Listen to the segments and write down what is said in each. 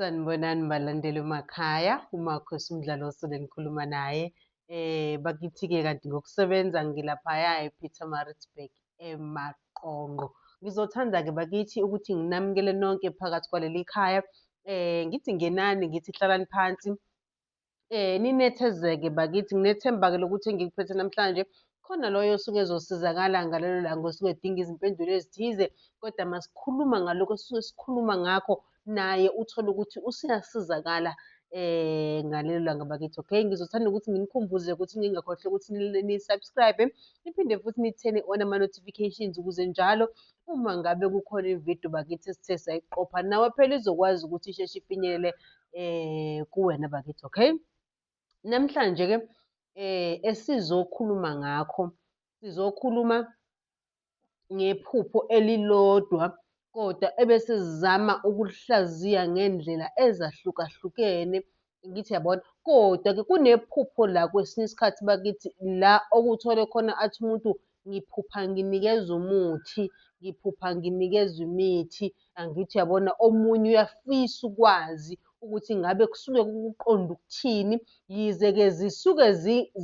Sanibonani balandeli emakhaya, uMarcus umdlalo osele ngikhuluma naye. Eh bakithi-ke kanti ngokusebenza ngilaphaya ePietermaritzburg emaqongo ngizothanda-ke bakithi ukuthi nginamukele nonke phakathi kwaleli khaya um ngithi ngenani ngithi hlalani phansi um ninethezeke bakithi nginethemba-ke lokuthi engikuphethe namhlanje khona loyo osuke ezosizakala ngalelo langa osuke edinga izimpendulo ezithize kodwa masikhuluma ngalokho esisuke sikhuluma ngakho naye uthole ukuthi usuyasizakala eh ngalelo langa bakithi okay ngizothanda ukuthi nginikhumbuze ukuthi ningakhohlwa ukuthi ni-subscribe niphinde futhi nithene on ama-notifications ukuze njalo uma ngabe kukhona ividiyo bakithi esithe sayiqopha nawe phela izokwazi ukuthi isheshe ifinyelele eh kuwena bakithi okay namhlanje-ke eh esizokhuluma ngakho sizokhuluma ngephupho elilodwa kodwa ebesizama ukulihlaziya ngendlela ezahlukahlukene ngithi yabona kodwa-ke kunephupho la kwesinye isikhathi bakithi la okuthole khona athi umuntu ngiphupha nginikezwa umuthi ngiphupha nginikezwa imithi angithi yabona omunye uyafisa ukwazi ukuthi ngabe kusuke kukuqonda ukuthini yize-ke zisuke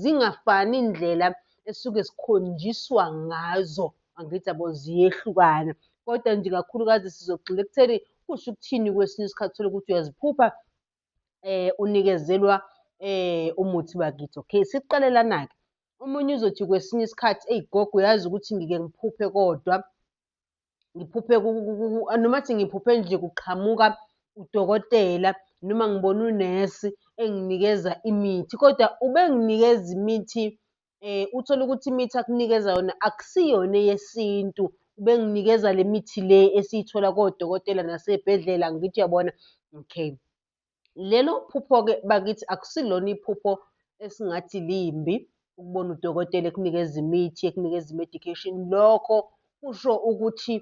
zingafani indlela esuke sikhonjiswa ngazo angithi yabo ziyehlukana kodwa nje kakhulukazi sizogxila ekutheni kusho ukuthini kwesinye isikhathi thole ukuthi uyaziphupha eh unikezelwa eh umuthi bakithi okay siqalelana-ke omunye uzothi kwesinye isikhathi eyi gogo uyazi ukuthi ngike ngiphuphe kodwa ngiphuphe noma athi ngiphuphe nje kuqhamuka udokotela noma ngibona unesi enginikeza imithi kodwa ubenginikeza imithi eh uthole ukuthi imithi akunikeza yona akusiyona eyesintu ubenginikeza le mithi le esiyithola kodokotela nasey'bhedlela angithi uyabona, okay. Lelo phupho-ke bakithi akusilona iphupho esingathi limbi ukubona udokotela ekunikeza imithi, ekunikeza i-medication. Lokho kusho ukuthi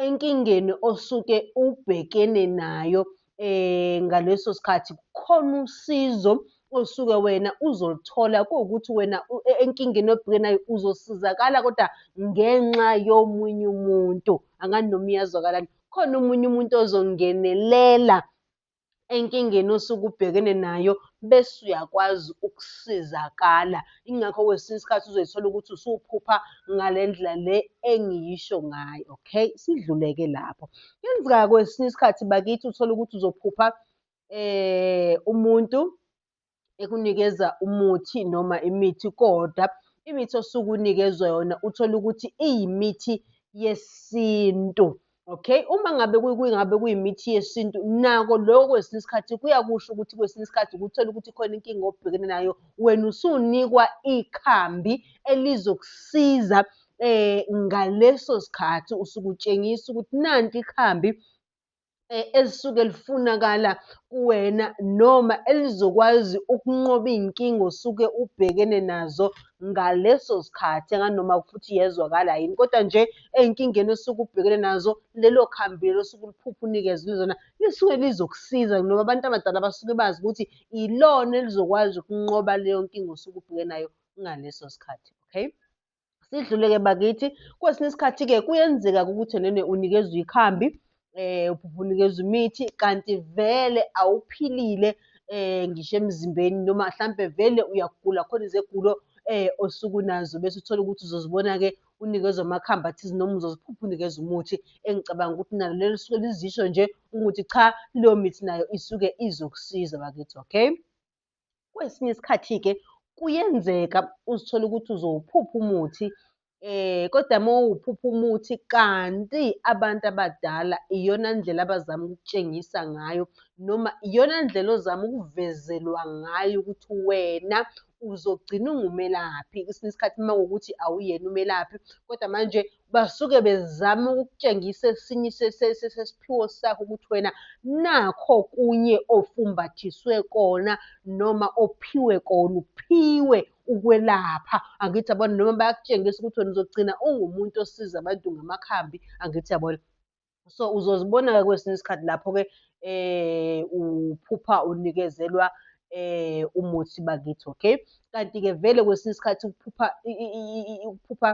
enkingeni osuke ubhekene nayo eh ngaleso sikhathi kukhona usizo osuke wena uzolithola kuwukuthi wena e-, enkingeni obhekene nayo uzosizakala kodwa ngenxa yomunye umuntu angani noma iyazwakalani khona omunye umuntu ozongenelela enkingeni osuke ubhekene nayo bese uyakwazi ukusizakala. Ingakho kwesinye isikhathi uzoyithola ukuthi usuphupha ngale ndlela le engiyisho ngayo, okay? Sidluleke lapho. Kuyenzeka kwesinye isikhathi bakithi uthole ukuthi uzophupha um umuntu ekunikeza umuthi noma imithi kodwa imithi osuke unikezwa yona uthole ukuthi iyimithi yesintu okay uma ngabe kungabe kuyimithi yesintu nako lokho kwesinye isikhathi kuyakusho ukuthi kwesinye isikhathi ukuthola ukuthi khona inkinga obhekene nayo wena usunikwa ikhambi elizokusiza eh ngaleso sikhathi usukutshengisa ukuthi nanti ikhambi eh, elisuke lifunakala kuwena noma elizokwazi ukunqoba iy'nkinga osuke ubhekene nazo ngaleso sikhathi anganoma futhi yezwakala yini kodwa nje ey'nkingeni osuke ubhekene nazo lelo khambi lelo osuke uliphupha unikezwe zona lisuke lizokusiza noma abantu abadala basuke bazi ukuthi ilona elizokwazi ukunqoba leyo nkinga osuke ubhekene nayo ngaleso sikhathi okay Sidlule-ke bakithi, kwesinye isikhathi-ke kuyenzeka-ke ukuthi enene unikezwa ikhambi um unikezwa imithi kanti vele awuphilile um ngisho emzimbeni noma hlampe vele uyagula khona izegulo um osuke unazo bese uthole ukuthi uzozibona-ke unikezwa amakhambi athize noma uzoziphupha unikezwa umuthi engicabanga ukuthi nalo lelo lisuke lizisho nje ukuthi cha leyo mithi nayo isuke izokusiza bakithi okay. Kwesinye isikhathi-ke kuyenzeka uzithole ukuthi uzowuphupha umuthi eh kodwa uma uwuphupha umuthi kanti abantu abadala iyona ndlela abazama ukutshengisa ngayo noma iyona ndlela ozama ukuvezelwa ngayo ukuthi wena uzogcina ungumelaphi kwesinye isikhathi uma ukuthi awuyena umelaphi kodwa manje basuke bezama ukukutshengisa esinye sesiphiwo sakho ukuthi wena nakho kunye ofumbathiswe kona noma ophiwe kona uphiwe ukwelapha angithi yabona noma bayakutshengisa ukuthi wena uzogcina ungumuntu osiza abantu ngamakhambi angithi yabona so uzozibona-ke kwesinye isikhathi lapho-ke eh uphupha unikezelwa eh umuthi bakithi okay kanti-ke vele kwesinye isikhathi ukuphupha ukuphupha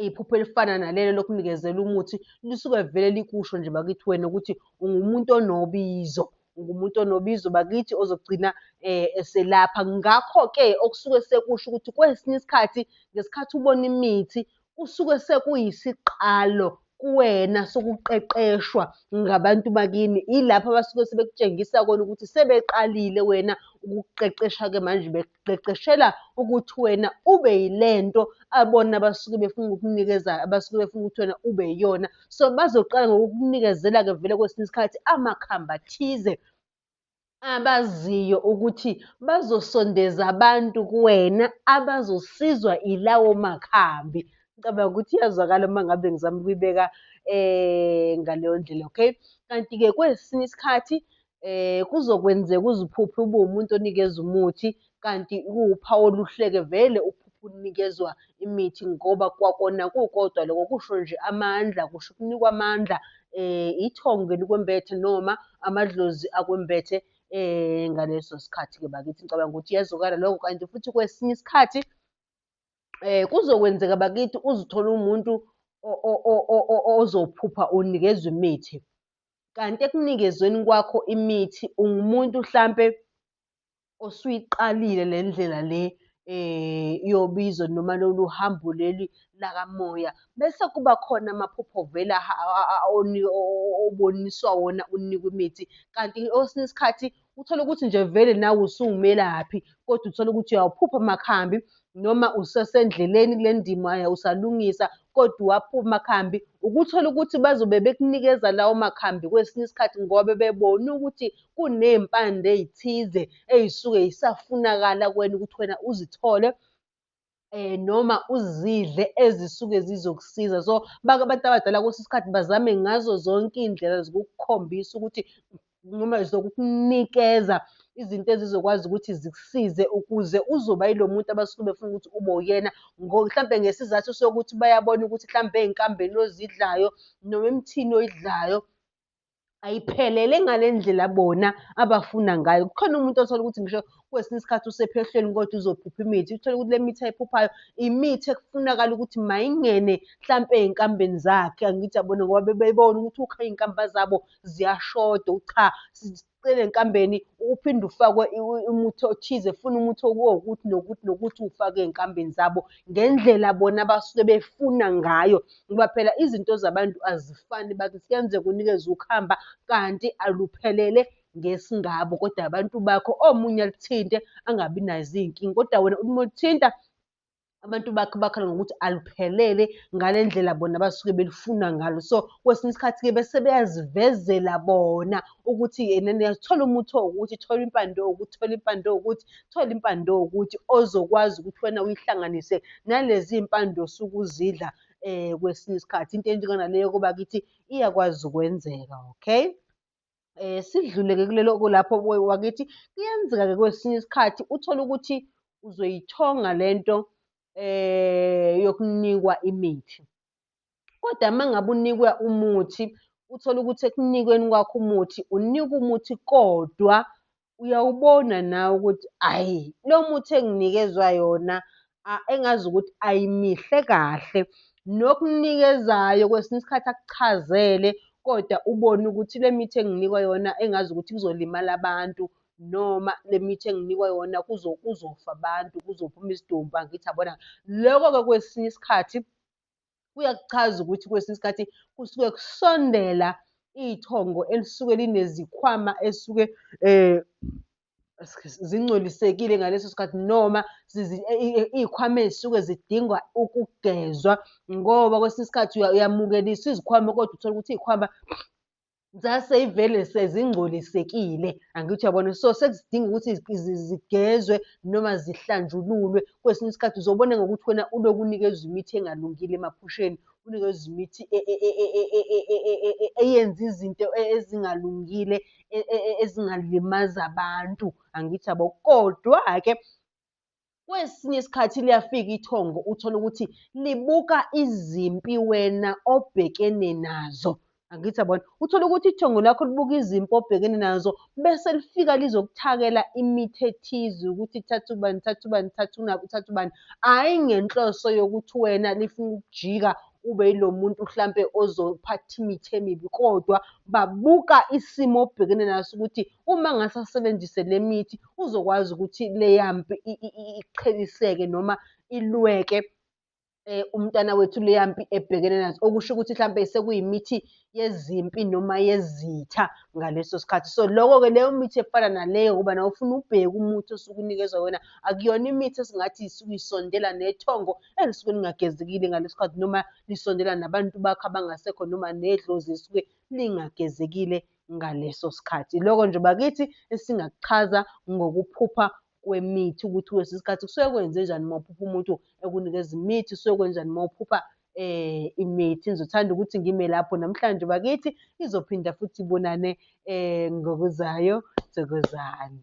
iphupho elifana nalelo lokunikezela umuthi lisuke vele likusho nje bakithi wena ukuthi ungumuntu onobizo ngumuntu onobizo bakithi ozogcina eh, eselapha ngakho-ke okusuke sekusho ukuthi kwesinye isikhathi ngesikhathi ubona imithi kusuke sekuyisiqalo kuwena sokuqeqeshwa ngabantu bakini ilapho abasuke sebekutshengisa kona ukuthi sebeqalile wena ukuqeqesha-ke manje bekuqeqeshela ukuthi wena ube yilento abona abasuke befuna ukukunikeza abasuke befuna ukuthi wena ube yiyona so bazoqala ngokukunikezela-ke vele kwesinye isikhathi amakhamba athize abaziyo ukuthi bazosondeza abantu kuwena abazosizwa ilawo makhambi. Ngicabanga ukuthi iyazwakala uma ngabe ngizama ukuyibeka um ngaleyo ndlela okay. Kanti-ke kwesinye isikhathi um kuzokwenzeka uze uphuphe ube umuntu onikeza umuthi kanti kuwuphawu oluhleke vele uphupha unikezwa imithi ngoba kwakona kukodwa loko kusho nje amandla kusho ukunikwa amandla eh ithongo elikwembethe noma amadlozi akwembethe eh ngaleso sikhathi ke bakithi ngicabanga ukuthi yazokala lokho kanti futhi kwesinye isikhathi eh kuzokwenzeka bakithi uzithola umuntu ozophupha unikezwa imithi kanti ekunikezweni kwakho imithi ungumuntu hlampe osuyiqalile le ndlela le eh yobizo noma lolu hambo leli lakamoya bese kuba khona amaphupho vele oboniswa wona unikwa imithi kanti osinye isikhathi uthole ukuthi nje vele nawe usuwumelaphi kodwa uthole ukuthi uyawuphupha amakhambi noma usasendleleni kule ndima usalungisa kodwa uwaphupha amakhambi, ukuthola ukuthi bazobe bekunikeza lawo makhambi kwesinye isikhathi ngoba bebone ukuthi kuney'mpande ey'thize ey'suke y'safunakala kuwena ukuthi wena uzithole noma uzidle ezisuke zizokusiza. So, abantu abadala kwesinye isikhathi bazame ngazo zonke iy'ndlela zokukukhombisa ukuthi noma zokukunikeza izinto ezizokwazi ukuthi zikusize ukuze uzoba yilo muntu abasuke befuna ukuthi ube uyena mhlampe ngesizathu sokuthi bayabona ukuthi mhlampe ey'nkambeni ozidlayo noma emthini oyidlayo ayiphelele ngale ndlela bona abafuna ngayo. Kukhona umuntu othola ukuthi ngisho kwesinye isikhathi usephehlweni kodwa uzophupha imithi. Uthole ukuthi le mithi ayiphuphayo imithi ekufunakala ukuthi mayingene hlampe ey'nkambeni zakhe angithi yabona ngoba bebebona ukuthi ukha iy'nkamba zabo ziyashoda ucha sicele enkambeni uphinde ufakwe umuthi othize funa umuthi okuwokuthi nokuthi nokuthi ufake ezinkambeni zabo ngendlela bona abasuke befuna ngayo ngoba phela izinto zabantu azifani bathi kuyenzeka unikeze ukuhamba kanti aluphelele ngesingabo kodwa abantu bakho omunye alithinte angabi nazo izinkinga kodwa wena uma ulithinta abantu bakhe bakhala ngokuthi aluphelele ngale ndlela bona abasuke belifuna ngalo so kwesinye isikhathi-ke bese beyazivezela bona ukuthi yena niyazithola umuthi owukuthi thola impande owukuthi thola impande owukuthi thola impande owukuthi ozokwazi ukuthi wena uyihlanganise nalezi mpande osuke uzidla um kwesinye isikhathi into enjenganaleyo koba kithi iyakwazi ukwenzeka okay eh sidluleke kulelo kulapho wakithi kuyenzeka ke kwesinye isikhathi uthole ukuthi uzoyithonga lento eh yokunikwa imithi kodwa mangabe unikwa umuthi uthola ukuthi ekunikweni kwakho umuthi unika umuthi kodwa uyawubona nawe ukuthi ayi lo muthi enginikezwa yona engazi ukuthi ayimihle kahle. Nokunikezayo kwesinye isikhathi akuchazele kodwa ubone ukuthi le mithi enginikwa yona engazi ukuthi kuzolimala abantu noma le mithi enginikwa yona kuzofa abantu, kuzophuma izidumbu angithi yabona. Loko-ke kwesinye isikhathi kuyakuchaza ukuthi kwesinye isikhathi kusuke kusondela ithongo elisuke linezikhwama esuke eh zingcolisekile ngaleso sikhathi noma iy'khwama ey'suke zidingwa ukugezwa ngoba kwesinye isikhathi uyamukeliswa izikhwama kodwa uthole ukuthi iy'khwama zaseyivele sezingcolisekile angithi uyabona so sekudinga ukuthi zigezwe noma zihlanjululwe kwesinye isikhathi uzobona ngokuthi wena uloku unikezwa imithi engalungile emaphusheni unikezwa imithi eyenza izinto ezingalungile ezingalimaza abantu angithi yabo kodwa-ke Kwesinye isikhathi liyafika ithongo uthole ukuthi libuka izimpi wena obhekene nazo. Angithi yabona? Uthole ukuthi ithongo lakho libuka izimpi obhekene nazo bese lifika lizokuthakela imithi ethize ukuthi thatha ubani, thatha ubani, thatha unabi, thatha ubani. Hhayi ngenhloso yokuthi wena lifuna ukujika ube yilo muntu hlampe ozophatha imithi emibi kodwa babuka isimo obhekene naso ukuthi uma ngase asebenzise le mithi uzokwazi ukuthi leya mpi iqheliseke noma ilweke um umntana wethu leya mpi ebhekene nazo okusho ukuthi hlampe sekuyimithi yezimpi noma yezitha ngaleso sikhathi so loko-ke leyo mithi efana naleyo kuba nawe ufuna ubheke umuthi osuke unikezwa wena akuyona imithi esingathi isuke isondela nethongo elisuke lingagezekile ngaleso sikhathi noma lisondela nabantu bakho abangasekho noma nedlozi esuke lingagezekile ngaleso sikhathi. Iloko nje bakithi esingakuchaza ngokuphupha kwemithi ukuthi kwesi sikhathi kusuke kwenze njani uma uphupha umuntu ekunikeza imithi, kusuke kwenjani uma uphupha eh imithi ngizothanda ukuthi ngime lapho namhlanje bakithi izophinda futhi ibonane eh ngokuzayo thokozani